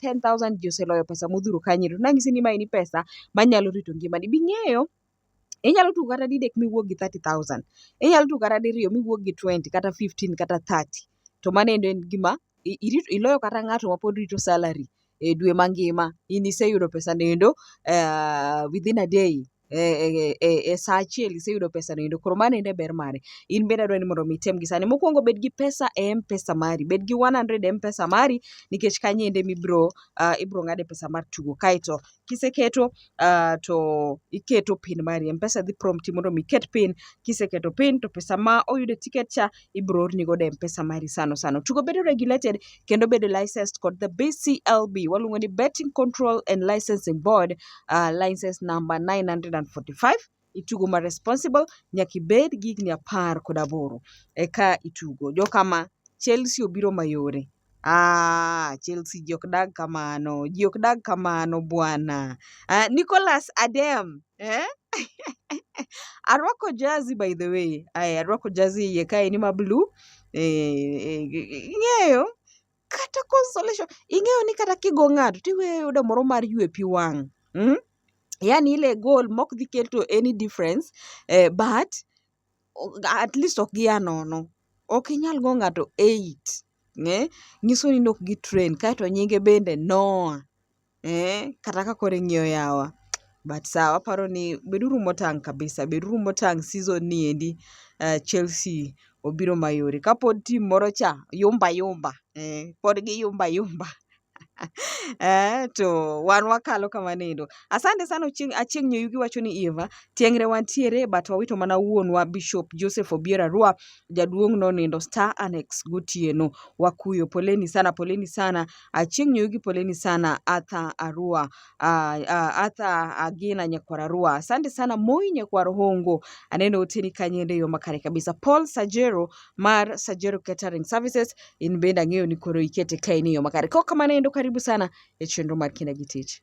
ten thousand ji oseloyo pesa modhuro kanyini to nanyisi ni ma en pesa manyalo rito ngimani bing'eyo Inyalo tugo kata didek miwuog gi thirty thousand. Inyalo tugo kata diriyo miwuog gi twenty kata fifteen kata thirty. To mano endo en gima iloyo kata ng'ato mapod rito salary e dwe mangima in iseyudo pesano endo within a day. e, e, e sa achiel iseyudo pesa no endo koro mano ende ber mare in bende adwaro ni mondo mi item gi sani mokwongo bed gi pesa e mpesa mari bed gi 100 e mpesa mari nikech kanyo ende mibro uh, ibro ng'ade pesa mar tugo kaeto kiseketo uh, to iketo pin mari mpesa dhi prompt mondo mi iket pin kiseketo pin to pesa ma oyude tiket cha ibiro orni godo e mpesa mari sano sano. Tugo bedo regulated kendo bedo licensed kod the BCLB waluongo ni Betting Control and Licensing Board uh, license number 945 itugo ma responsible nyaka ibed gi higni apar kod aboro eka itugo. Jokama Chelsea obiro mayore. Aah, Chelsea ji ok dag kamano, ji ok dag kamano bwana. Uh, Nicolas Adem eh? arwako jazi by the way Ay, arwako jazi iye kae ni ma blue eh, ing'eyo kata consolation ing'eyo ni kata kigo ng'ato tiweyo yudo moro mar ywe pi wang' mm? yani ile goal mok dhi keto any difference eh, but at least ok gia nono. Ok inyal go ng'ato eight, eh, nyiso ni ne ok gi train. Kaeto nyinge bende Noah, eh, kata ka koro ing'iyo yawa. But sawa, aparo ni beduru motang' kabisa, beduru motang' season ni endi eh, Chelsea obiro mayore. Kapod team moro cha yumba yumba, eh, pod gi yumba yumba. eh, to wan wakalo kamano endo. Asante sana Ochieng', Achieng' Nyoyugi wacho ni Eva, tieng're wantiere but wawito mana wuonwa Bishop Joseph Obiero Arua, jaduong' nonindo Star Annex gotieno. Wakuyo, poleni sana, poleni sana. Achieng' Nyoyugi poleni sana. Arthur Arua, ah, ah, Arthur Agina Nyakwar Arua. Asante sana Moi Nyakwar Hongo. Aneno oteni kanyende yo makare kabisa. Paul Sajero mar Sajero Catering Services, in bende ang'eyo ni koro ikete kae ni yo makare. Kok kamano endo karibu sana e chenro mar Kinda gi Tich.